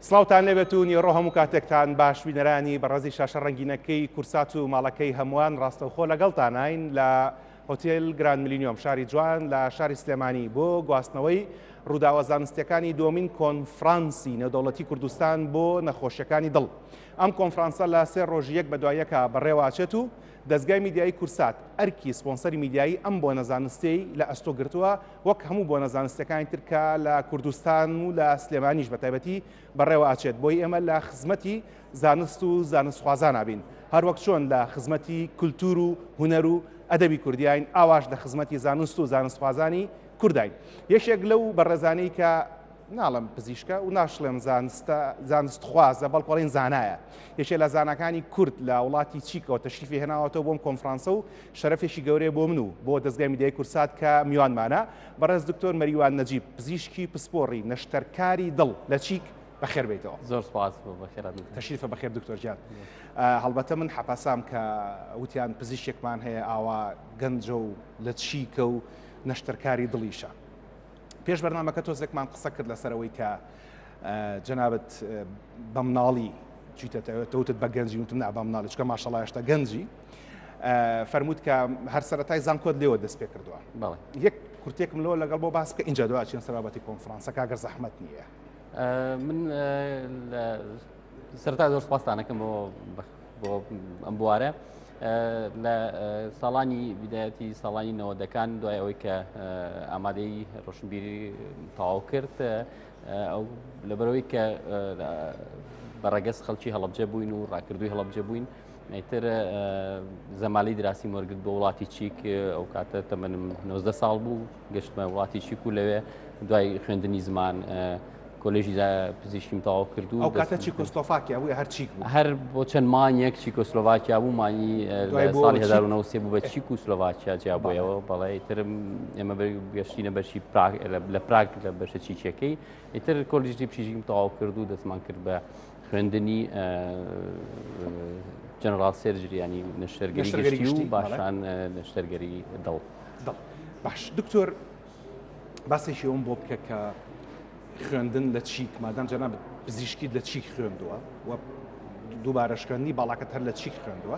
سڵاوتان لێبێت و نیوەڕۆ هەموو کاتێکتان باش بینەرانی بەڕێزی شاشە ڕەنگینەکەی کورسات و ماڵەکەی هەمووان ڕاستەوخۆ لەگەڵتاناین لە هۆتێل گراند ملینیۆم شاری جوان لە شاری سلێمانی بۆ گواستنەوەی ڕووداوە زانستیەکانی دومین کۆنفرانسی نێودەوڵەتی کوردستان بۆ نەخۆشیەکانی دڵ ئەم کۆنفرانسە لە سێ ڕۆژی یەک بەدوایەکە بەڕێواچێت و دەستگای میدیایی کورسات ئەرکی سپۆنسەری میدیایی ئەم بۆ نەزانستەی لە ئەستۆ گرتووە وەک هەموو بۆنە زانستیەکانی تر کە لە کوردستان و لە سلێمانیش بە تایبەتی بەڕێوە ئاچێت بۆی ئێمە لە خزمەتی زانست و زانستخوازانابین هەروەک چۆن لە خزمەتی کولتور و هوەر و ئەدەبی کوردیین ئاواش لە خزمەتی زانست و زانستخوازانی کوردین یەکێک لەو بەڕێزانەی کە ناڵم پزیشکە و ناشڵێن زانستە زانست خوازە بەڵکڵین زانایە یەکێ لە زانەکانی کورد لە وڵاتی چیکەوە تەشریفی هێناوەەوە بۆم کۆنفرانسە و شەرەفێکی گەورەیە بۆ من و بۆ دەزگای میدیای کوردسات کە میوانمانە بەڕێز دکتۆر مەریوان نەجیب پزیشکی پسپۆڕی نەشتەرکاری دڵ لە چیک بەخێر بێیتەوە. زۆر سوپاس بۆ بەخێرات. تەشریفە بەخێر دکتۆر گیان. هەڵبەتە من حەپەسام کە وتیان پزیشکێکمان هەیە ئاوا گەنجە و لە چیکە و نەشتەرکاری دڵیشە. پێش بەرنمەکە تۆزێکمان قسە کرد لەسەرەوەی کە جەنابەت بە مناڵی چیتەتەوێت تەوتت بە گەنجی وتم نا بە مناڵی چکە ماشەڵایشتا گەنجی فەرمووت کە هەر سەرەتای زانکۆت لێوە دەست پێ کردووە بەڵێ یەک کورتێکم لەوە لەگەڵ بۆ باس کە اینجا دو چین سەرابەتی کۆنفرانسە کاگەر زەحمت نییە من سەرتا زۆر سپاسانەکەم بۆ بۆ ئەم بوارە لە ساڵانی بدایەتی ساڵانی نەوەدەکان دوای ئەوەی کە ئامادەی ڕۆشنبیری تەواو کرد ئەو لەبەرەوەی کە بە ڕەگەز خەڵکی هەڵبجە بووین و ڕاکردووی هەڵبجە بووین ئیتر زەمالی دراسی وەرگرت بۆ وڵاتی چیک ئەو کاتە تەمەنم 90 ساڵ بوو گەشتمە وڵاتی چیک و لەوێ دوای خوێندنی زمان کۆلژی پزیشکیم تەواو کرد و ئەو کاتە چیکۆسلۆفاکیا بووە هەر چیک بوو هەر بۆ چەند مانیەک چیکۆسلۆڤاکیا بوو مانی ساڵی 1970 بوو بە چیک و سلۆڤاکیا جیابەوە بەڵێ ترم ئێمە گەشتینە بەشی لە پراگ لە بەشە چیچەکەی ئیتر کۆلیژی پشیژیم تەواو کرد و دەستمان کرد بە خوێندنی جەنرال سێرجریانی نەشتەرگەری و باشان نەشتەرگەری دڵ باش دکتۆر باسێکی ئەوم بۆ بکە کە خوێندن لە چیک مادام جەنا پزیشکیت لە چیک خوێندووە و دووبارەشکەنی باڵاکەت هەر لە چیک خوێندووە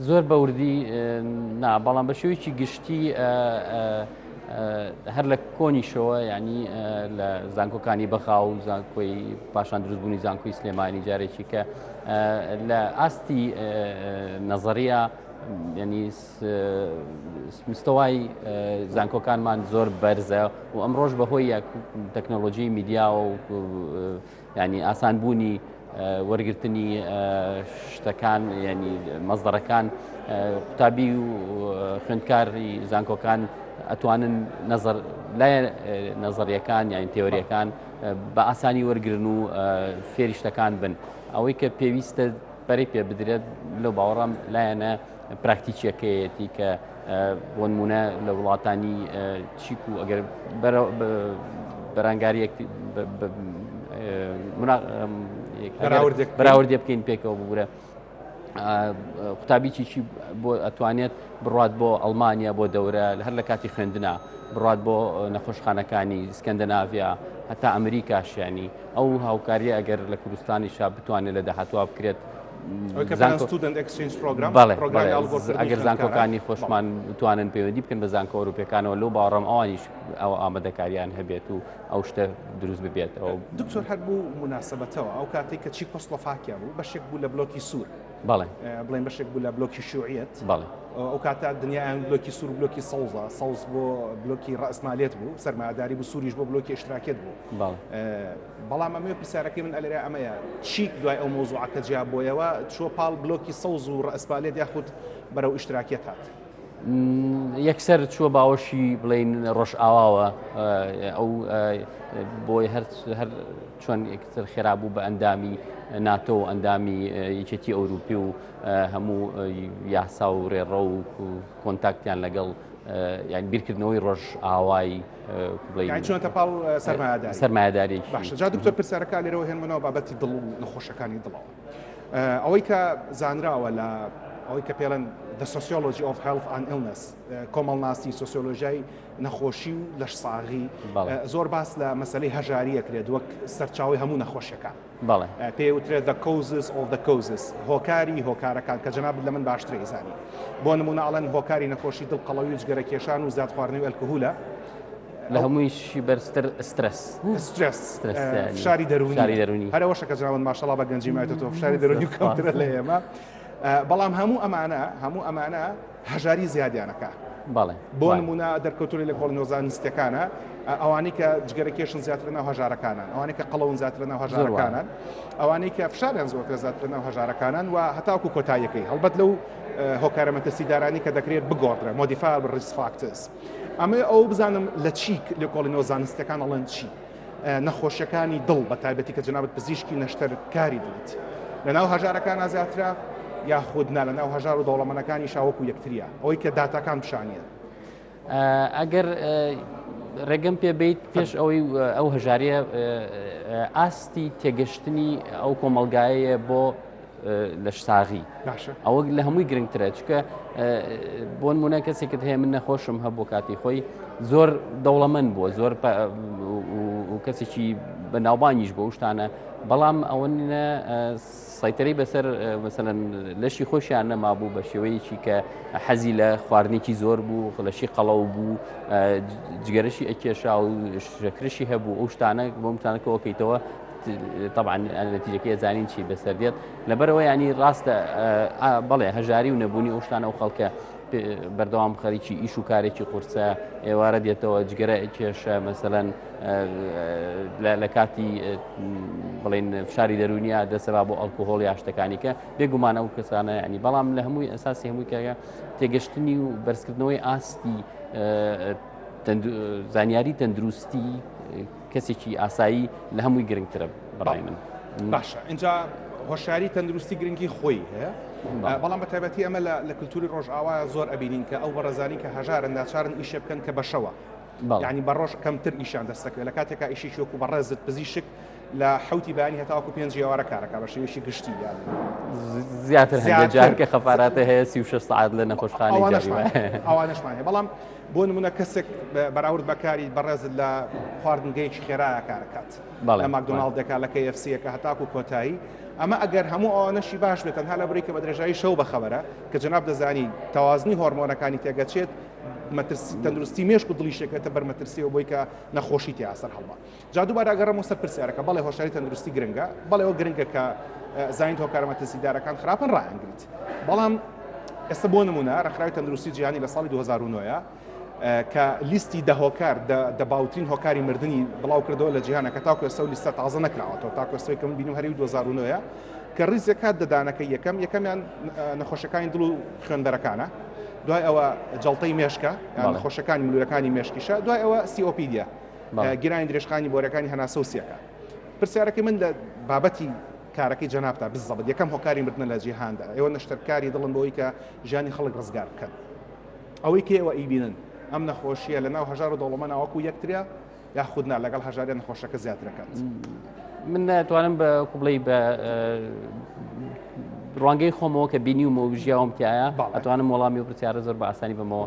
زۆر بە وردی نا، بەڵام بە شێوەیەکی گشتی هەر لە کۆنیشەوە ینی لە زانکۆکانی بەغا و زانکۆی پاشان دروستبوونی زانکۆی سلێمانی جارێکی کە لە ئاستی نەزەریا ینی مستەوای زانکۆکانمان زۆر بەرزە و ئەمڕۆژ بەهۆی تەکنۆلۆژی میدیاوە و یانی ئاسان بوونی وەرگرتنی شتەکان ینی مەزدەڕەکان قوتابی و خوێندکاری زانکۆکان ئەتوانن نظر لای نظریەکان یان تێوریەکان بە ئاسانی وەرگن و فێریشتەکان بن ئەوەی کە پێویستە بەری پێ بدرێت لە باوەڕام لایەنە پراکتیکیەکەیەتی کە بۆنمونە لە وڵاتانی چیک و ئەگەر بەرانگاریەک بەراوردێ بکەین پێکەوە بگورە قوتابیی چی بۆ ئەتوانێت بڕات بۆ ئەلمانیا بۆ دەورە هەر لە کاتی خوێندنا بڕات بۆ نەخۆشخانەکانی سکەندەناڤیا هەتا ئەمریکاشیانی ئەو هاوکاریە ئەگەر لە کوردستانی شا بتوانێت لە داهاتوا بکرێت ئەگەر زانکۆکانی خۆشمان توانن پەیوەندی بکەن بە زانکە ئەوروپەکانەوە لەو باڕم ئەوانیش ئەو ئامادەکاریان هەبێت و ئەو شتە دروست ببێت ئەو دکتۆر هەر بوو مناسبەتەوە ئەو کاتێک کە چی پست وفاکیان بوو بەشێک بوو لە بلۆکی سوور بەڵێ بڵێن بەشێک بوو لە بلۆکی شوعەت بەڵێ ئەو کاتە دنیایان بلۆکی سوور بلۆکی سەوزە سەوز بۆ بلۆکی ڕاستمالێت بوو سەرماداری بوو سووریش بۆ بلۆکی اشتراکێت بوو بەڵام ئەمەوێ پرسیارەکەی من ئەلێرە ئەمەیە چیک دوای ئەو مەوزوعە کە جیا بۆیەوە چووە پاڵ بلۆکی سەوز و ڕەئسپالێت یاخود بەرەو ئیشتراکیەت هات؟ یەکسەر چووە باوەشی بڵین ڕۆژئاواوە ئەو بۆی هەر هەر چۆن یەکتر خێرا بوو بە ئەندامی ناتۆ و ئەندامی یەکێتی ئەوروپی و هەموو یاسا و ڕێڕە و کۆنتاکتیان لەگەڵ یان بیرکردنەوەی ڕۆژ ئاوای چۆنتە پاڵ سەرمایداری باشجا دکتۆر پرسیارەکە لێرەوە هێنمەوە بابەتی دڵ و نەخۆشەکانی دڵەوە ئەوەی کە زانراوە لە ئەوەی کە پێڵەن the sociology of health and illness کۆمەڵناسی سوسیۆلۆژیای نەخۆشی و لەش ساغی زۆر باس لە مەسلەی هەژاریەکرێت وەک سەرچاوی هەموو نەخۆشیەکان بەڵێ. پێی ئەوترێت The Causes of the Causes هۆکاری هۆکارەکان، کە جەنابت لە من باشتر ئەیزانی. بۆ نموونە ئەڵێن هۆکاری نەخۆشی دڵ قەڵەوی و جگەرە کێشان و زیاد خواردنەوەی ئەلکهولە. لە هەموویشی بەرزتر سترێس. سترێس. سترێس یانی. فشاری دەروونی. فشاری دەروونی. هەر ئەوەشە کە جەنابت ماشەڵڵا بە گەنجی مایتەتەوە فشاری دەروونی کەمترە لە ئێمە. بەڵام هەموو ئەمانە، هەموو ئەمانە. هەژاری زیادیان ئەکا. بەڵێ بۆ وایە. نموونە دەرکەوتووە لە لێکۆڵینەوە زانستییەکانە ئەوانەی کە جگەرە کێشن زیاترە ناو هەژارەکانن، ئەوانەی کە قەڵەون زیاترە ناو زۆر وایە. هەژارەکانن، ئەوانەی کە فشاریان زۆرترە زیاترە ناو هەژارەکانن و هەتاوەکو کۆتاییەکەی. هەڵبەت لەو اه، هۆکارە مەترسیدارانەی کە دەکرێت بگۆڕدرێن، modifiable risk factors. ئەمەوێ ئەوە بزانم لە چی لێکۆڵینەوە زانستییەکان ئەڵێن چی؟ نەخۆشیەکانی دڵ بە تایبەتی کە جەنابت پزیشکی نەشتەر کاری دڵیت لەناو هەژارەکان زیاترە یاخود نا لەناو هەژار و دەوڵەمەنەکانی شاوەکو یەکتریە ئەوەی کە داتاکان پیشانە ئەگەر ڕێگەم پێ بیت پێش ئەوەی ئەو هەژاریە ئاستی تێگەشتنی ئەو کۆمەلگایەیە بۆ لەشساغی ئەوە لە هەمووی گرنگترە چکە بۆن مونە کەسێکت هەیە من نەخۆشم هەبوو کاتی خۆی زۆر دەوڵەمەند بووە زۆر کەسێکی بە ناوبانیش بۆ شتانە بەڵام ئەوە سایتەری بەسەر مەسەن لەشی خۆشیان نەما بوو بە شێوەیەکی کە حەزی لە خواردنێکی زۆر بوو خلەشی قەڵەو بوو جگەرەشی ئەکێشا و شەکرشی هەبوو ئەو شتانە بۆمتانەکەەوەکەیتەوە تەبعاً نەتیجەکەی ئەزانین چی بەسەر دێت لەبەرەوە ینی ڕاستە بەڵێ هەژاری و نەبوونی ئەوشتانە و خەڵکە بەردەوام خەریکی ئیش و کارێکی قورسە ئێوارە دێتەوە جگەرە کێشە مەسەەن لە کاتی بڵین فشاری دەرونیا دەسەبا بۆ ئەلکوهۆڵ یا شتەکانی کە بێگومانە و کەسانە ینی بەڵام لە هەمووی ئەساسی هەمووی کەگە تێگەشتنی و بەرزکردنەوەی ئاستی زانیاری تەندروستی کەسێکی ئاسایی لە هەمووی گرنگترە بەڕای من باشە اینجا هۆشاری تەندروستی گرنگی خۆی هەیە بەڵام بە تایبەتی ئەمە لە کللتوری ڕۆژئاوا زۆر ئەبینین کە ئەو بەڕزانی کە هەژارن ناچارن ئیشە بکەن کە بەشەوە ینی بە ڕۆژ کەمتر ئیشان دەستەکە لە کاتێکا ئیشی شوک و بەڕێزت پزیشک لە حوتی بانی هەتاکو پێنج ئێوارە کارەکە بە شێویشی گشتی یان زیاتر هەجار کە خەفااتە هەیە سی سعات لە نەخۆشخانەوانشمان بەڵام بۆ نمونە کەسێک بەراورد بە کاری بەڕێزت لە خواردنگەیەکی خێرایە کارەکات لە ماکدۆناڵدێکا لە کە ئەفسیەکە هەتاکو کۆتایی ئەمە ئەگەر هەموو ئەوانەشی باش بێت تەنها لە بری کە بە درێژایی شەو بەخەبەرە کە جناب دەزانی تەوازنی هۆرمۆنەکانی تێگەچێت مەترسی تەندروستی مێشک و دڵیشێکێتە بەرمەترسیەوە بۆی کە نەخۆشی تیاسەر هەڵبا جا دووبارە ئەگەڕێم بۆ سەر پرسیارەکە، بەڵێ هۆشیاری تەندروستی گرنگە، بەڵێ ئەوە گرنگە کە زانیت هۆکارە مەترسیدارەکان خراپن ڕایانگریت، بەڵام ئێستا بۆ نموونە ڕێکخراوی تەندروستی جیهانی لە ساڵی 2009 کە لیستی دە هۆکار دە باوترین هۆکاری مردنی بڵاو کردەوە لە جیهانە کە تاکو ئێستا لیستە تازە نەکراوەتەوە تاکو ئێستا کە من بینم هەری 2009 کە ڕیزێک کات دەدانەکە یەکەم یەکەمیان نەخۆشەکانی دڵ و خوێندەرەکانە دوای ئەوە جڵتەی مێشکە نەخۆشەکانی ملوەکانی مێشکیشە دوای ئەوە سیۆپیدە گرانی درێژخانی بۆرەکانی هەناسە و سیەکە پرسیارەکەی من لە بابەتی کارەکەی جەنابتا بزەبت یەکەم هۆکاری مردنە لە جیهاندا ئێوە نەشتەرکاری دڵن بۆی کە ژیانی خەڵک ڕزگار بکەن ئەوەی کە ئێوە ئیبینن ئەم نەخۆشیە لە ناو هەژار و دەوڵەمە ناوەکو یەکتریا یاخودنا لەگەڵ هەژارە نەخۆشەکە زیاترەکەات من ناتوانم بە کوبڵی بە ڕوانگەی خۆمەوە کە بینی و مۆژیاوم تایە ئەتوانم وەڵامی و پرسیارە زۆر بە ئاسانی بمەوە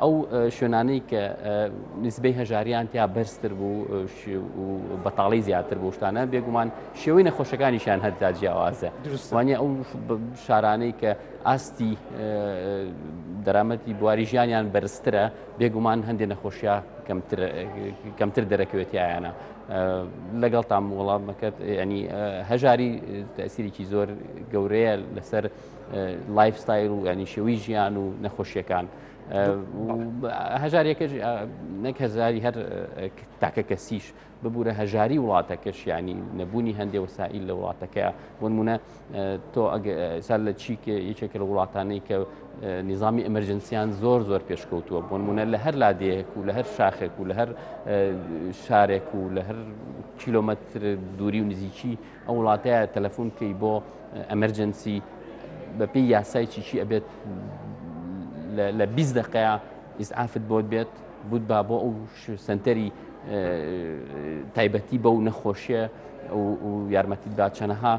ئەو شوێنانەی کە نسبەی هەژاریان تیا بەرزتر بوو بەتاڵی زیاتر بۆ شتانە بێگومان شێوەی نەخۆشەکانیشان هەردا جیاوازە وانە ئەو شارانەی کە ئاستی دەرامەتی بواری ژیانیان بەرزترە بێگومان هەندێک نەخۆشیە کەمتر دەرەکەوێتیایانە لەگەڵ تام وڵامەکەت ینی هەژاری تەسیرێکی زۆر گەورەیە لەسەر لایفستایل و ینی شێوی ژیان و نەخۆشیەکان هەژارەکە نەک هەزاری هەر تاکە کەسیش ببوورە هەژاری وڵاتەکەش ینی نەبوونی هەندێ وسائیل لە وڵاتەکە بۆنمونە تۆ سەر لە چیک یەکێک لە وڵاتانەی کە نظامی ئەمەرجنسیان زۆر زۆر پێشکەوتووە بۆنمونە لە هەر لادەیەک و لە هەر شاخێک و لە هەر شارێک و لە هەر کیلومتر دووری و نزیکی ئەو وڵاتەیە تەلەفۆن بکەی بۆ ئەمەرجەنسی بەپی یاسای چیچی ئەبێت لە 20 دقەیە ئیسعافت بۆت بێت بوت با بۆ ئەو سنتەری تایبەتی بە و نەخۆشیە و یارمەتیت با چەنەها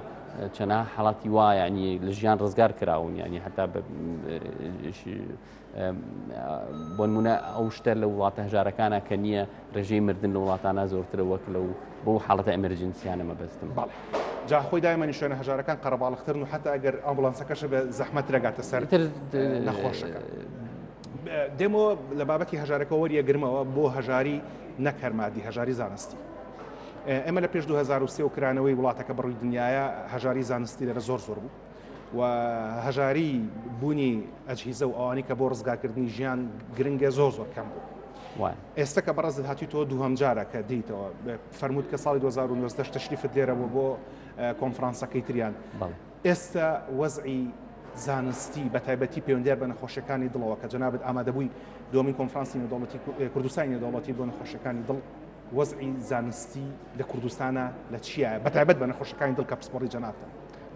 چەنا حڵاتی وایە ینی لە ژیان ڕزگار کراون ینی هەتا بۆنمونە ئەو شتە لە وڵاتە هەژارەکانە کە نییە ڕێژەی مردن لە وڵاتانە زۆرترە وەک لەو بۆ حاڵەتە ئەمرجنسیانە مەبەستم باڵ جاخۆی دایمەنی شوێنە هەژارەکان قەرەباڵخترن و حتا ئەگەر ئەمبلانسەکەش بە زەحمەت رەگاتە سەر نەخۆشەکە. دێمەوە لە بابەتی هەژارەکە وەریەگرمەوە بۆ هەژاری نەکەرمادی هەژاری زانستی. ئێمە لە پێش 2023 و کرانەوەی وڵاتەکە بڕووی دنیاە هەژاری زانستی لەرە زۆر زۆر بوو. و هەژاری بوونی ئەجهیزە و ئەوانی کە بۆ ڕزگارکردنی ژیان گرنگە زۆر زۆر کەم بوو. ئێستا کە بەڕێزت هاتی تۆ دووهم جارە کە دیتەوە فەرمووت کە ساڵی 2009 تەشریفت لێرە بوو بۆ کۆنفرانسەکەی تریان ئێستا وەزعی زانستی بە تایبەتی پەیوەندیار بە نەخۆشیەکانی دڵەوە کە جنابەت ئامادەبووی دومین کۆنفرانسی نێودەوڵەتی کوردستانی نێودەوڵەتی بۆ نەخۆشیەکانی دڵ وەزعی زانستی لە کوردستانە لە چیە بە تایبەت بە نەخۆشەکانی دڵ کە پسپۆڕی جنابتە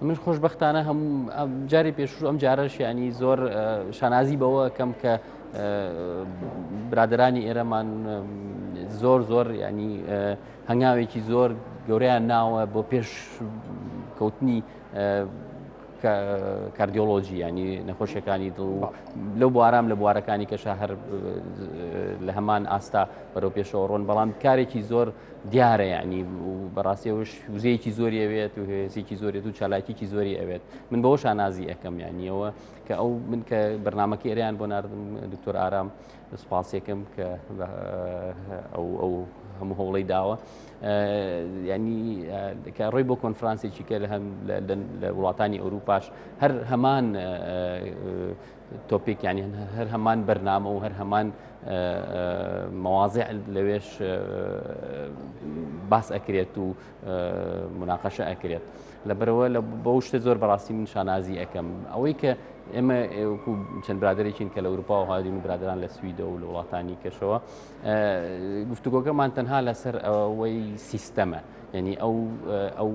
من خۆشببختانە هەم جاری پێشوو ئەم جارە شیانی زۆر شانازی بەوە کەم کە برادرانی ئێرەمان زۆر زۆر ینی هەنگاوێکی زۆر گەوریان ناوە بۆ پێش کەوتنی کاردیۆلۆژی ینی نەخۆشیەکانی دڵ لەو بوارام لە بوارەکانی کەشە هەر لە هەمان ئاستا بەرەو پێشەوە ڕۆن بەڵام کارێکی زۆر دیارە یعنی بەڕاستی ئەوش وزەیەکی زۆری ئەوێت و هێزێکی زۆرێت و چالاکیکی زۆری ئەوێت من بەەوە شانازی ئەەکەم یانیەوە کە ئەو من کە بەرنمەکە ئێریان بۆ نردم دکتۆر ئارام سوپاسێکم کە ئەو ئەو هەموو هەوڵی داوە ینی کە ڕۆی بۆ کۆنفرانسێکی کە لە هەم لە وڵاتانی ئەوروپاش هەر هەمان تۆپیک یعنی هەر هەمان بەرنامە و هەر هەمان مەوازع لەوێش باس ئەکرێت و مناقەشە ئەکرێت لەبەرەوە لە بەو شتە زۆر بەڕاستی من شانازی ئەەکەم ئەوەی کە ئێمە چەند برادێکین کە لە ئەوروپا و هادین و برادران لە سویدە و لە وڵاتانی کەشەوە گفتوگۆکەمان تەنها لەسەر ئەوەی سیستەمە یعنی ئەو ئەو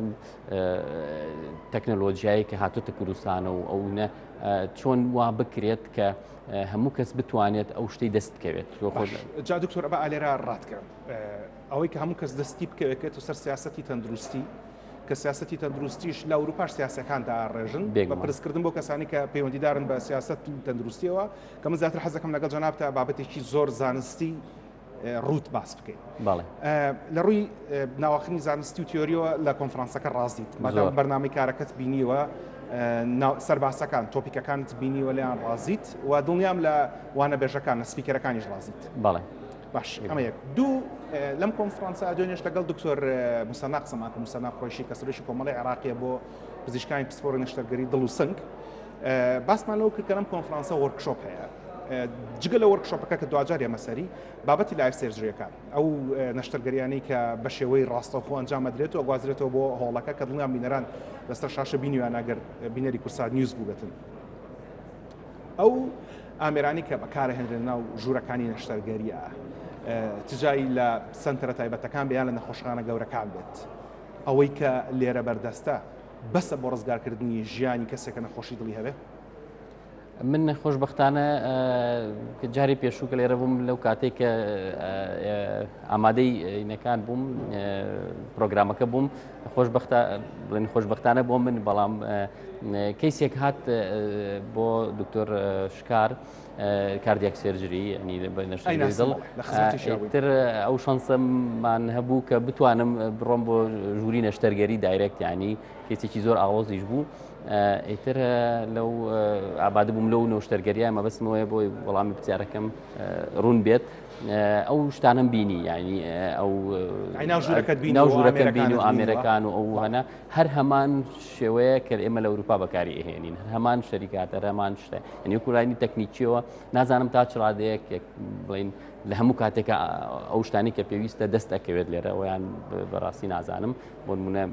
تەکنەلۆژیایی کە هاتوتە کوردستانە و ئەو نە چۆن وا بکرێت کە هەموو کەس بتوانێت ئەو شتی دەست بکەوێت جا دکتۆر ئەبا ئالێرا ڕاتکەم ئەوەی کە هەموو کەس دەستی بکەوێت و سەر سیاستی تەندروستی کە سیاستی تەندروستیش لە ئەوروپاش سیاسەکان داڕێژن بە پرسکردن بۆ کەسانی کە پەیوەندیدارن بە سیاست تەندروستیەوە کە من زیاتر حەزەکەم لەگەڵ جەنابتە بابەتێکی زۆر زانستی ڕووت باس بکەین لە ڕووی ناوەخنی زانستی و تیۆریەوە لە کۆنفرانسەکە ڕاستیت مادام بەرنامی کارەکەت بینیوە سەرباسەکان تۆپیکەکانت بینیوە لیان ڕازیت و دڵنیام لە وانە بێژەکان نە سپیکەرەکانیش ڕازیت بەڵێ باش ئەمە یەک دوو لەم کۆنفرانسە دوێنێش لەگەڵ دکتۆر مسەنا قسەماکە مسەنا خۆشی کەسرشی کۆمەڵی عراقیە بۆ پزیشکانی پسپۆری نەشتەرگەری دڵ و سنگ باسمان لەوە کرد کە لەم کۆنفرانسە وۆرکشۆپ هەیە جگە لە وەرکشۆپەکە کە دواجار ئێمەسەری بابەتی لایف سێرجریەکە ئەو نەشتەرگەریانی کە بە شێوەی ڕاستەخۆ ئەنجام ئەدرێت و گوازرێتەوە بۆ هۆڵەکە کە دڵیان بینەران لەسەر شاشە بینیوان ئەگەر بینەری کورسات نیوز بووبێتن ئەو ئامرانی کە بەکارهێنرێن ناو ژوورەکانی نەشتەرگەریە تجایی لە سنتەرە تایبەتەکان بیان لە نەخۆشخانە گەورەکان بێت ئەوەی کە لێرە بەردەستە بەسە بۆ ڕزگارکردنی ژیانی کەسێکە نەخۆشی دڵی هەبێ من خۆشببختانە جاری پێشوو کە لێرە بووم لەو کاتێک کە ئامادەی ئینەکان بووم پرۆگرامەکە بووم خۆشببختە بڵێن خۆشببختانە بۆ من بەڵام کەیسێک هات بۆ دکتۆر شکار. کاردیاک سێرجری ینی تر ئەو شانسەمان هەبوو کە بتوانم بڕۆم بۆ ژووری نەشتەرگەری دایرێکت ینی کەسێکی زۆر ئاڵۆزیش بوو ئیتر لەو ئاباد بووم لەو نەشتەرگەریە مەبستمەوەی بۆی وەڵامی پرسیارەکەم ڕوون بێت ئەو شتانم بینی ینی ئەو ژوورەکەت بیناو ژوورەکە بین و ئامێرەکان و ئەو هەنە هەر هەمان شێوەیە کە ئێمە لە ئەوروپا بەکاری ئەهێنین هەر هەمان شەریکاتە هەمان شتە ئەنی کوردانی تەکنیکیەوە نازانم تا چڕادەیەک بڵین لە هەموو کاتێکە ئەو شتانی کە پێویستە دەست ئەکەوێت لێرە ئەویان بەڕاستی نازانم بۆ منە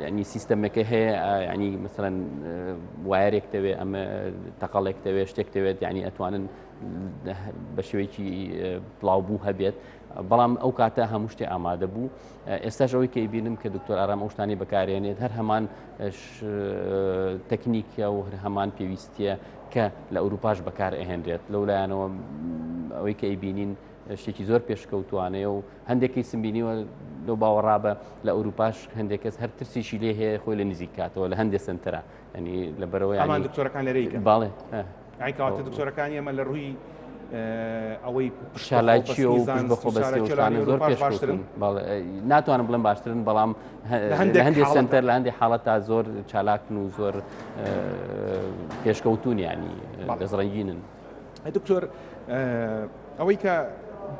ینی سیستەمەکە هەیە ینی مثلەن وایەرێک دەوێت ئەمە تەقەڵێک دەوێت شتێک دەوێت ینی ئەتوانن بە شێوەیەکی بڵاوبوو هەبێت بەڵام ئەو کاتە هەموو شتێ ئامادە بوو ئێستاش ئەوەی کەی بینم کە دکتۆر ئارام ئەو شتانی بەکارێنێت هەر هەمان تەکنیکە و هەر هەمان پێویستیە کە لە ئەوروپاش بەکار ئەهێنرێت لەو لایەنەوە ئەوەی کە ئەیبینین شتێکی زۆر پێشکەوتوانەیە و هەندێکی سمبینیوە لەو باوەڕابە لە ئەوروپاش هەندێک کەس هەر ترسیشی لێ هەیە خۆی لە نزیک کاتەوە لە هەندێک سنتەرە ینی لە بەرەوەی ئەمان دکتۆرەکان لەرەیکە باڵێ یعنی کەواتە دکتۆرەکانی ئێمە لە ڕووی ئەوەی شالایکی و بەخۆ بەستانە زۆر پێش باشترن ناتوانم بڵم باشترن بەڵام هەندێک سنتەر لە هەندی حاڵەت تا زۆر چالاکن و زۆر پێشکەوتونیانی دەزڕنگینن دکتۆر ئەوەی کە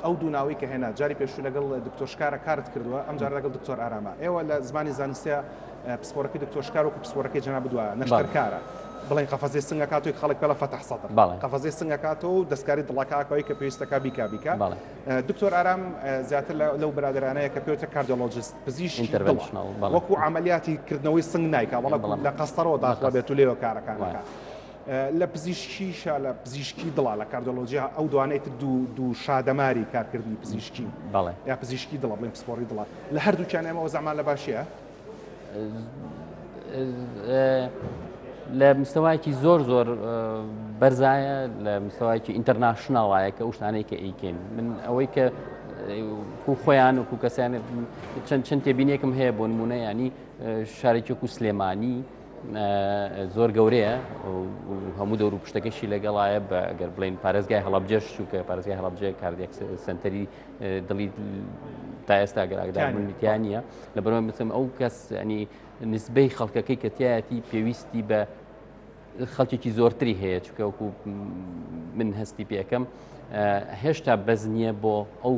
ئەو دوو ناوەی کە هێنا جاری پێشوو لەگەڵ دکتۆر شکارە کارت کردووە ئەم جار لەگەڵ دکتۆر ئارامە ئێوە لە زمانی زانستە پسپۆرەکەی دکتۆر شکار وەکو پسپۆرەکەی جەناب دووە نەشتەرکارە بڵێن قەفەزێ سنگەکە توی خەڵک پێڵە فەتح سەدر قەفەزێ سنگەکات و دەستکاری دڵەکەکەی کە پێویستەکە بیکا بیکە دکتۆر ئارام زیاتر لەو برادرانەیە کە پێوتە کاردۆلۆجیست پزیشکی وەکو عملیاتی کردنەوەی سنگ نایکە بەڵکو لە قەستەرەوە داخڵ بێت و لێوە کارەکانەکە. لە پزیشکی شا لە پزیشکی دڵە لە کاردۆلۆجیا ئەو دوانەی تر دوو دوو شادەماری کارکردنی پزیشکی بەڵێ یا پزیشکی دڵە بڵێن پسپۆری دڵە لە هەردووچیان ئێمەەوە زەمان لە باشە لە مستەواکی زۆر زۆر بەرزایە لە مستەواکی ئینتەرناشنناڵایە کە ئوشتانەی کە ئیکەین من ئەوەی کە کو خۆیان و کو کەسیانێت چەند چەند تێبینێکم هەیە بۆ نمونە ینی شارێکی و سلێمانی زۆر گەورەیە هەموو دەور و پشتەکەشی لەگەڵایە بە گەر بڵین پارێزگای هەڵبجێش چووکە پارێزگای هەڵبجێ کاردێک سنتەری دڵی تا ئێستا گەراگدارمنیان نیە لە بەرەوە بچم ئەو کەس ئەنی نسبەی خەڵکەکەی کە تایەتی پێویستی بە خەڵکێکی زۆرتری هەیە چکەوەکو من هەستی پێەکەم هێشتا بەز نییە بۆ ئەو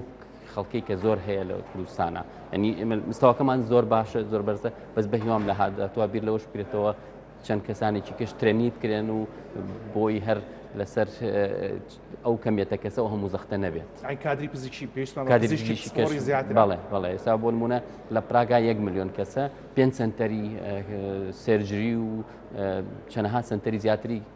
خەڵکەی کە زۆر هەیە لە کوردستانە ئەنی مستەواکەمان زۆر باشە زۆر بەرزە بەس بە هیوام لە هااتوە بیر لەوەش بکرێتەوە چەند کەسانێکی کەش ترێنی بکرێن و بۆی هەر لەسەر ئەو کەمێتە کەسە و هەموو زەختە نەبێت کادری پزیشی پێشمانڕی زیاتر بەڵێ بەڵێ ئێستا بۆ نمونە لە پراگا یەک میلیۆن کەسە پێنج سنتەری سێرجری و چەنەها سنتەری زیاتری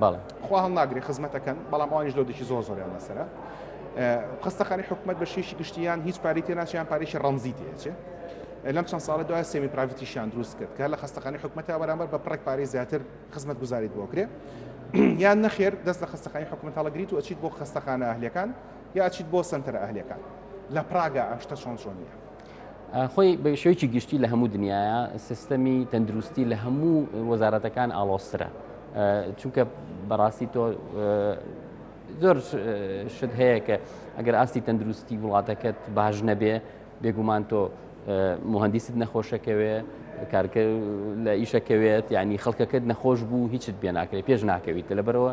بەڵێ. خوا هەڵناگرێ خزمەتەکەن بەڵام ئەوانیش لۆدێکی زۆر زۆریان لەسەرە. خەستەخانەی حکومەت بە شێشی گشتی یان هیچ پارەی تێ ناچێ یان پارێکی ڕەمزی تێچێ. لەم چەند ساڵە دوای سێمی پراڤتیشیان دروست کرد کە لە خەستەخانەی حکومەتە بەرامبەر بە پڕێک پارەی زیاتر خزمەت گوزاریت بۆ کرێ. یان نەخێر دەست لە خەستەخانەی حکومەت هەڵەگریت و ئەچیت بۆ خەستەخانە ئەهلەکان یا ئەچیت بۆ سنتەرە ئەهلەکان. لە پراگا ئەم شتە چۆن چۆن نیە. خۆی بە شێوکی گشتی لە هەموو دنیاە سیستەمی تەندروستی لە هەموو وەزارەتەکان ئاڵۆسترە چونکە بەڕاستی تۆ زۆر شت هەیە کە ئەگەر ئاستی تەندروستی وڵاتەکەت باش نەبێ بێگومان تۆ مهندیست نەخۆشەکەوێ کارکە لە ئیشەکەوێت ینی خەڵکەکەت نەخۆش بوو هیچت بێ ناکرێت پێش ناکەویت لەبەرەوە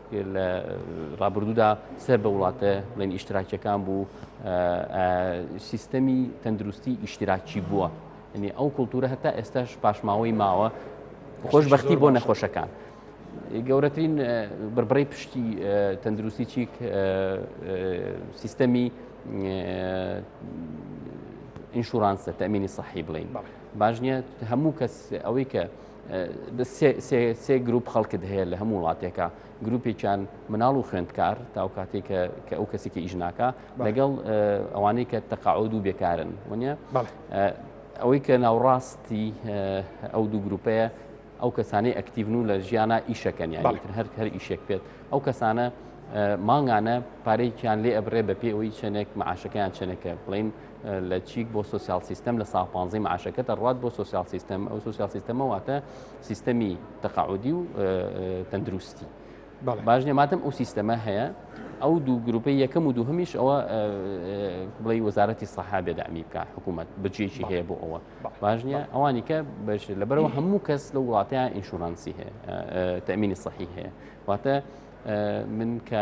لە ڕابردوودا سەر بە وڵاتە بڵێن ئیشتراکیەکان بوو سیستەمی تەندروستی ئیشتراکی بووە ئەنی ئەو کولتورە هەتا ئێستاش پاشماوەی ماوە خۆشببختی بۆ نەخۆشەکان. گەورەترین بڕبڕی پشتی تەندروستی چیک سیستەمی ئینشورانسە تەمینی صحی بڵین باش نیە هەموو کەس ئەوەی کە سێ گروپ خەڵکت هەیە لە هەموو وڵاتێکە گروپێکیان مناڵ و خوێندکار تاو کاتێک کە ئەو کەسی کە ئیژناکە لەگەڵ ئەوانەی کە تەقاعود و بێکارن وە ئەوەی کە ناوڕاستی ئەو دوو گروپەیە ئەو کەسانی ئەکتیڤن و لە ژیانە ئیشەکەن یاڵتر هەر هەر ئیشێک پێت ئەو کەسانە مانگانە پارێکیان لێ ئەبرێ بە پێ ئەوی چەندێک معاشەکەیان چەندەکە بڵین لە چیک بۆ سوسیال سیستم لە ساڵ پانزی معاشەکە دەڕات بۆ سوسیال سیستم ئەو سوسیال سیستەمە واتە سیستەمی تەقاعودی و تەندروستی باش نێماتم ئەو سیستەمە هەیە ئەو دوو گروپی یەکەم و دووهمیش ئەوە بڵی وەزارەتی سەحا بێدامی بکە حکوومەت بچێکی هەیە بۆ ئەوە باش نیە ئەوانی کە بەش لەبەرەوە هەموو کەس لە وڵاتیان ئینشورانسی هەیە تەمینی سەحی هەیە واتە من کە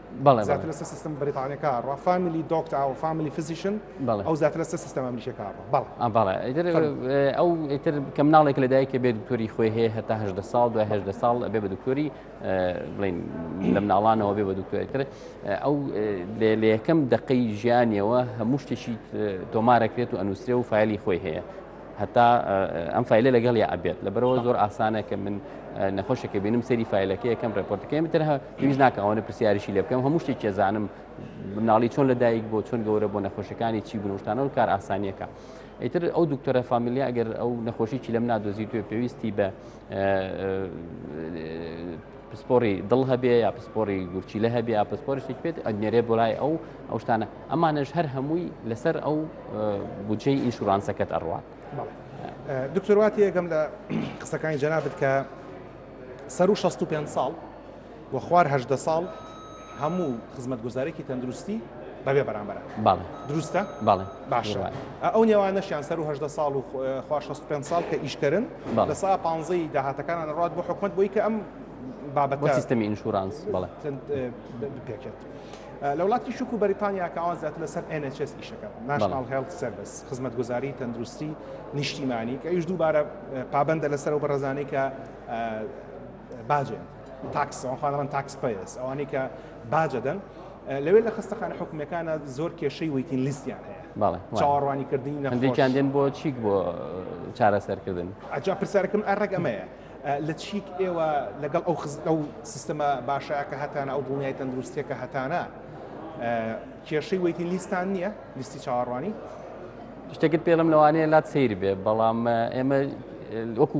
بەڵێ زیاتر لەسەر سیستم بریتانەکە ڕا فامیلی دۆکت ئەو فامیلی فزیشن بەڵێ ئەو زیاتر لەسەر سیستم ئەمریکەکە بەڵ بەڵێ ئیتر ئەو ئیتر کە مناڵێک لە دایکە بێت دکتۆری خۆی هەیە هەتا هەدە ساڵ دوای هەدە ساڵ بێ بە دکتۆری بڵین لە مناڵانەوە بێ بە دکتۆری تر ئەو لە یەکەم دقەی ژیانیەوە هەموو شتێکی تۆمارەکرێت و ئەنووسێ و فایلی خۆی هەیە هەتا ئەم فیلە لەگەڵ یا ئەبێت لەبەرەوە زۆر ئاسانە کە من نەخۆشەکە بینم سەری فیلەکە یەکەم ڕێپۆرتەکەم تر پێویست ناکە ئەوەنە پرسیارشی لێ بکەم هەموو شتێک کێزانم مناڵی چۆن لەدایک بۆ چۆن گەورە بۆ نەخۆشەکانی چی بنوشتانەوە کار ئاسانیەکە. ئیتر ئەو دکتۆرە فامیلیا ئەگەر ئەو نەخۆشیی لەم نادۆزی توێ پێویستی بە پسپۆری دڵ هەبێ یا پسپۆری گورچیلە هەبێ یا پسپۆری شتێک بێت ئەنێرێ بۆرای ئەو ئەو شتانە ئەمانەش هەر هەمووی لەسەر ئەو بودجەی ئینشورانسەکەت ئەڕوات دکتۆرواتی یەکەم لە قسەکانی جەنابت کە سەر و 65 ساڵ و خوار هەدە ساڵ هەموو خزمەتگوزارێکی تەندروستی بەبێ بەرامبەر دروستە باشە ئەو نێوانەشیان سەر و هەدە ساڵ و خوا 65 ساڵ کە ئیشکردن لە سا پانزەی داهاتەکانان ڕات بۆ حکومت بۆی کە ئەم بابەت سیستمی ئینشورانس بڵێ پێکێت. لە وڵاتی شک و بەریتانیا کەوا زیاتر لەسەر NHS ئیشەکە ناشناڵ هێڵ سرویس خزمەت گوزاری تەندروستی نیشتیمانی کە ئیش دووبارە پابندە لەسەر و بەڕزانەی کە باجێن تاکس ئەوان خۆیان دەڵێن تاکس پەیەس ئەوانەی کە باج دەدەن لەوێ لە خستەخانە حکومەکانە زۆر کێشەی ویتین لیستیان هەیە چاوەڕوانی کردنی نەندێکیان دێن بۆ چیک بۆ چارەسەرکردن ئەجا پرسیارەکەم ئەڕێک ئەمەیە لە چیک ئێوە لەگەڵ ئەو خزت ئەو سیستەمە باشەیە کە هەتانە ئەو دڵنیای تەندروستیە کە هەتانە کێشەی ویتین لیستان نییە لیستی چاوەڕوانی شتێکت پێڵم لەوانەیە لات سیر بێ بەڵام ئێمە وەکو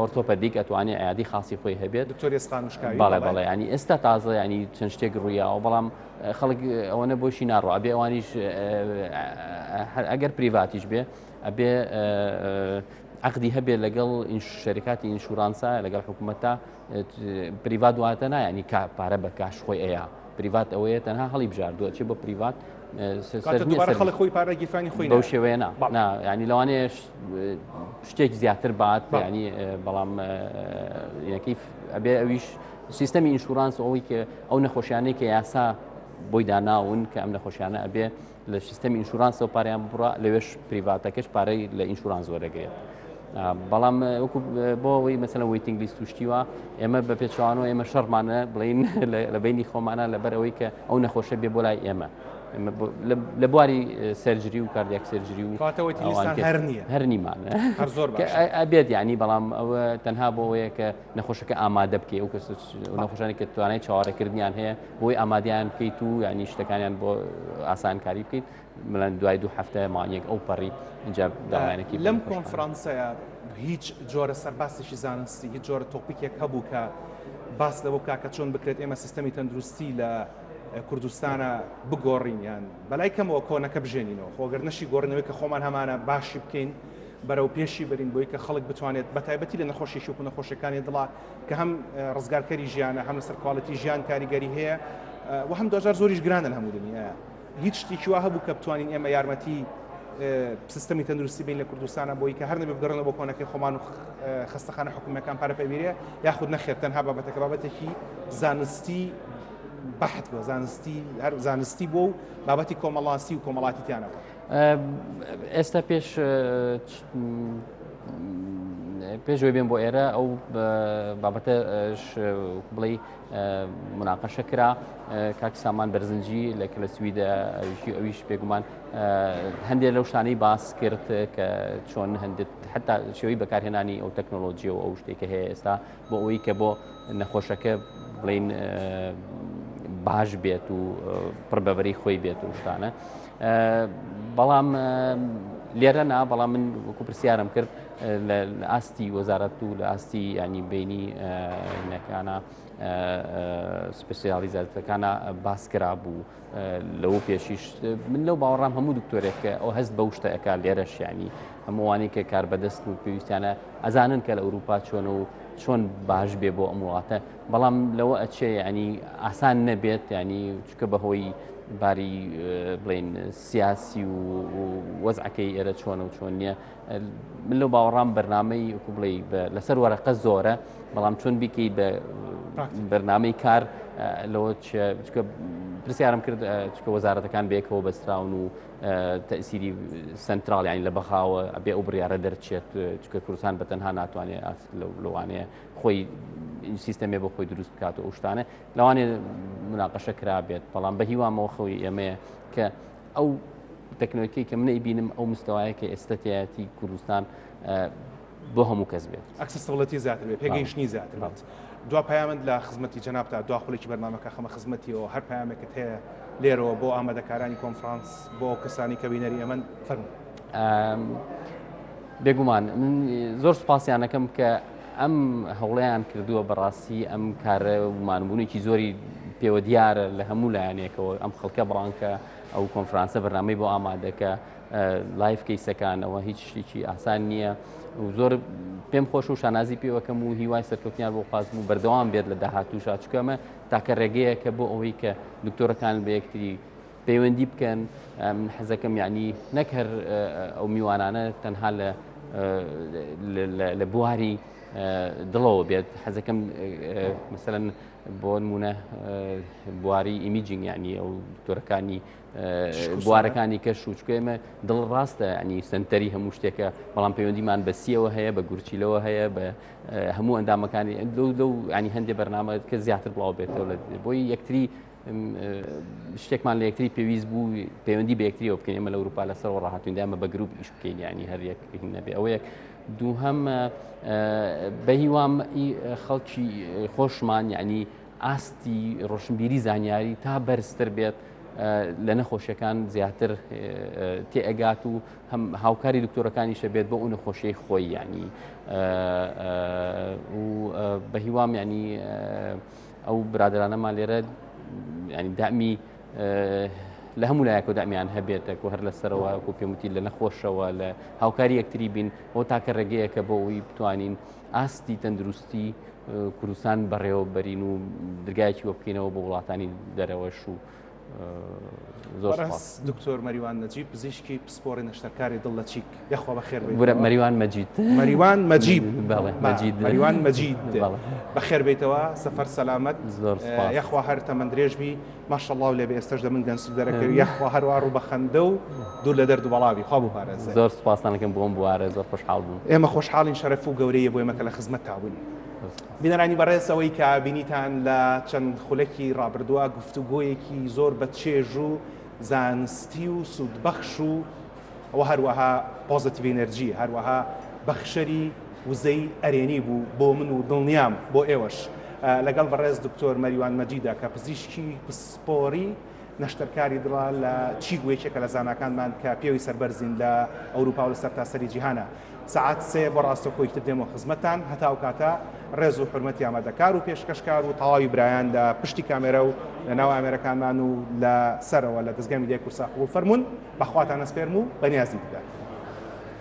ئۆرتۆپەدیک ئەتوانێت عیادی خاصی خۆی هەبێت بەڵێ بەڵێ ینی ئێستا تازە ینی چەند شتێک ڕوویەوە بەڵام خەڵک ئەوەنە بۆشی ناڕۆ ئەبێ ئەوانیش ئەگەر پریڤاتیش بێ ئەبێ عقدی هەبێت لەگەڵ شەریکاتی ئینشورانسا لەگەڵ حکوومەتتا پریڤات واتە نایانی کا پارە بە کاش خۆی ئەیە پریڤات ئەوەیە تەنها هەڵی بژاردووە چی بە پریڤات خۆی پارە گیرفانی خۆی بەو شێوەیە نا ینی لەوانەیە شتێک زیاتر بات ینی بەڵام یەکی ئەبێ ئەویش سیستەمی ئینشورانس ئەوەی کە ئەو نەخۆشیانەی کە یاسا بۆی داناون کە ئەم نەخۆشیانە ئەبێ لە سیستەمی ئینشورانسەوە پاریان بڕە لەوێش پریڤاتەکەش پارەی لە ئینشوران زۆرەگرێت. بەڵام وەکو بۆ ئەوەی مەسەن ویتنگ لیست توشتیوە ئێمە بە پێچوانەوە ئێمە شەڕمانە بڵین لە بینی خۆمانە لەبەر ئەوەی کە ئەو نەخۆشە بێ بۆ لای ئێمە. لە بواری سەرجری و کاردیاک سەرجری و هەر نیمان ئەبێت ینی بەڵام ئەوە تەنها بۆ ئەوەیە کە نەخۆشەکە ئامادە بکەی و کەس نەخۆشانی کە توانای چاوەڕێکردنیان هەیە بۆی ئامادیان بکەیت و ینی شتەکانیان بۆ ئاسانکاری بکەیت ملەن دوای دوو هەفتە مانیەک ئەو پەڕی اینجا داوایانێکی لەم کۆنفرانسەیە هیچ جۆرە سەرباسێکی زانستی هیچ جۆرە تۆپیکێک هەبوو کە باس لەەوە کاکە چۆن بکرێت ئێمە سیستەمی تەندروستی لە کوردستانە بگۆڕین یان بەلای کەمەوە کۆنەکە بژێنینەوە خۆ گەر نەشی گۆڕینەوەی کە خۆمان هەمانە باشی بکەین بەرەو پێشی برین بۆی کە خەڵک بتوانێت بە تایبەتی لە نەخۆشی شوک و نەخۆشەکانی دڵا کە هەم ڕزگارکەری ژیانە هەم لەسەر کوالەتی ژیان کاریگەری هەیە و هەم دۆزار زۆریش گرانن هەموو دنیا هیچ شتێکی وا هەبوو کە بتوانین ئێمە یارمەتی سیستمی تەندروستی بین لە کوردستانە بۆی کە هەر نەبێ بگەڕنە بۆ کۆنەکەی خۆمان و خستەخانە حکوومەکان پارەپەویرێ یاخود نەخێت تەنها بابەتەکە بابەتێکی زانستی بەحت بۆ زانستی هەر زانستی بۆ و بابەتی کۆمەڵاسی و کۆمەڵاتی تیانەوە ئێستا پێش پێشوێ بێن بۆ ئێرە ئەو بابەتە بڵێ مناقەشە کرا کاک سامان بەرزنجی لە کە لە سویدە ئەویشی ئەویش پێگومان هەندێک لەو شتانەی باس کرد کە چۆن هەندێت حتا شێوەی بەکارهێنانی ئەو تەکنۆلۆژیە و ئەو شتێکە هەیە ئێستا بۆ ئەوەی کە بۆ نەخۆشەکە بڵین باش بێت و پڕبەبەری خۆی بێت و شتانە بەڵام لێرە نا بەڵام من وەکو پرسیارم کرد لە ئاستی وەزارەت و لە ئاستی ینی بینی نەکانە سپسیالیزاتەکانە باس کرا بوو لەوە پێشیش من لەو باوەڕام هەموو دکتۆرێک کە ئەو هەست بەو شتە ئەک لێرەشیانی هەمووانی کە کار بەدەست و پێویستیانە ئەزانن کە لە ئەوروپا چۆن و چۆن باش بێ بۆ ئەم وڵاتە بەڵام لەوە ئەچێ ینی ئاسان نەبێت ینی چکە بەهۆی باری بڵین سیاسی و وەزعەکەی ئێرە چۆنە و چۆن نییە من لەو باوەڕام بەرنمەی وکو بڵێ لەسەر وەرەقە زۆرە بەڵام چۆن بیکەی بە بەرنمەی کار لەوە پرسیارم کرد چکە وەزارەتەکان بێکەوە بەستراون و تەسیری سنتراڵ یانی لە بەخاوە ئەبێ ئەو بڕیاە دەرچێت چکە کوردستان بە تەنها ناتوانێت ئاست لەوانەیە خۆی سیستەمێ بۆ خۆی دروست بکات و ئەوشتانە لەوانێ مناقەشە کرابێت بەڵام بە هیوامەوە خەوی ئێمەیە کە ئەو تەکنۆلکەی کە منەی بینم ئەو مستەوایە کە ئێستەتیایەتی کوردستان بۆ هەموو کەس بێت ئەکسسڵەتی زیاتر بێت پێگەیشتنی زیاتر بێت دو پامند لە خزمەتی جەنابتا دو خولێکی بەرنمەکە خەمە خزمەتیەوە هەر پامێکت هەیە لێرەوە بۆ ئامادەکارانی کۆنفرانس بۆ کەسانی کە بینەری ئەمەن فەرم بێگومان من زۆر سپاسیانەکەم کە ئەم هەوڵەیان کردووە بەڕاستی ئەم کارە مانبوونێکی زۆری پێوە دیارە لە هەموو لایەنێکەوە ئەم خەڵکە بڕانکە ئەو کۆنفرانسە بەرنامەی بۆ ئامادەکە لایف کەیسەکانەوە هیچ شتێکی ئاسان نییە زۆر پێم خۆش و شانازی پێوەکەم و هیوای سەرکەوتنیان بۆ خواستم و بەردەوام بێت لە داهاتوو شاچکەمە تاکە ڕێگەیە کە بۆ ئەوەی کە دکتۆرەکان بە یەکتری پەیوەندی بکەن من حەزەکەم یعنی نەک هەر ئەو میوانانە تەنها لە لە بواری دڵەوە بێت حەزەکەم مثلەن بۆ نمونە بواری ئیمیجینگ یعنی ئەو دکتۆرەکانی بوارەکانی کەش و چکێمە دڵ ڕاستە ینی سنتەری هەموو شتێکە بەڵام پەیوەندیمان بە سیەوە هەیە بە گورچیلەوە هەیە بە هەموو ئەندامەکانی لەو لەو ینی هەندێک بەرنامە کە زیاتر بڵاو بێتەوە بۆی یەکتری شتێکمان لە یەکتری پێویست بوو پەیوەندی بە یەکتریەوە بکەین ئەمە لە ئەوروپا لەسەر ڕاهاتویندا ئەمە بە گروپ ئیش بکەین ینی هەریەک نەبێ ئەوەیەک دووهەم بە هیوام خەڵکی خۆشمان یعنی ئاستی ڕۆشنبیری زانیاری تا بەرزتر بێت لە نەخۆشیەکان زیاتر تێئگات و هەم هاوکاری دکتۆرەکانیشە بێت بۆ ئەو نەخۆشیی خۆی ینی و بە هیوام ینی ئەو برادرانەمان لێرە ینی دامی لە هەموو لایەکە دامیان هەبێتەکو هەر لە سەرەوە و پێموتی لە نەخۆشەوە لە هاوکاری یەکتری بین بۆ تاکە ڕێگەیەکە بۆ ئەوی بتوانین ئاستی تەندروستی کوردستان بەڕێوەبەرین و درگایکی وە بکەینەوە بۆ وڵاتانی دەرەوەش و دکتۆر مەریوان نەجیب پزیشکی پسپۆری نەشتەرکاری دڵ لە چیک یخوا بە خێر مەریوان مەجید مەریوان مەجیب مەریوان مەجید بە خێر بیتەوە سەفەر سەلامەت یخوا هەر تەمەند درێژبی ماشەڵاو لێ ئێستش دە من گەنج دەرەکەوی یخوا هەروە ڕوو بە خەندە و دوور لە دەرد بەڵاوی خوا بپارێ زۆر سپاسانەکەم بۆم بوارە زۆر خۆشحاڵ بوو ئێمە خۆشحاڵین شەرەف و گەورەیە بۆ ئێمەکە لە خزمەت تاون بینەرانی بەڕێز ئەوەی کە بینیتان لە چەند خولەکی ڕابردووە گفتوگۆیەکی زۆر بە چێژ و زانستی و سوودبەخش و وە هەروەها پۆزەتیڤ ئینەرجی هەروەها بەخشەری وزەی ئەرێنی بوو بۆ من و دڵنیام بۆ ئێوەش لەگەڵ بەڕێز دکتۆر مەریوان مەجیدا کە پزیشکی پسپۆری نەشتەرکاری دڵە لە چیگوێکێکە لە زاناکانمان کە پێوی سەربەرزین لە ئەوروپا و لە سەرتاسەری جیهانە سەعات سێ بۆ ڕاستەوخۆی تر دێمەوە خزمەتتان، هەتا ئەو کاتە ڕێز و حورمەتی ئامادەکار و پێشکەشکار و تەواوی برایان لە پشتی کامێرا و لە ناو ئامێرەکانمان و لە سەرەوە لە دەزگای میدیای کوردسات قبوڵ فەرموون بە خواتان ئەسپێرم و بە نیازی دیدار.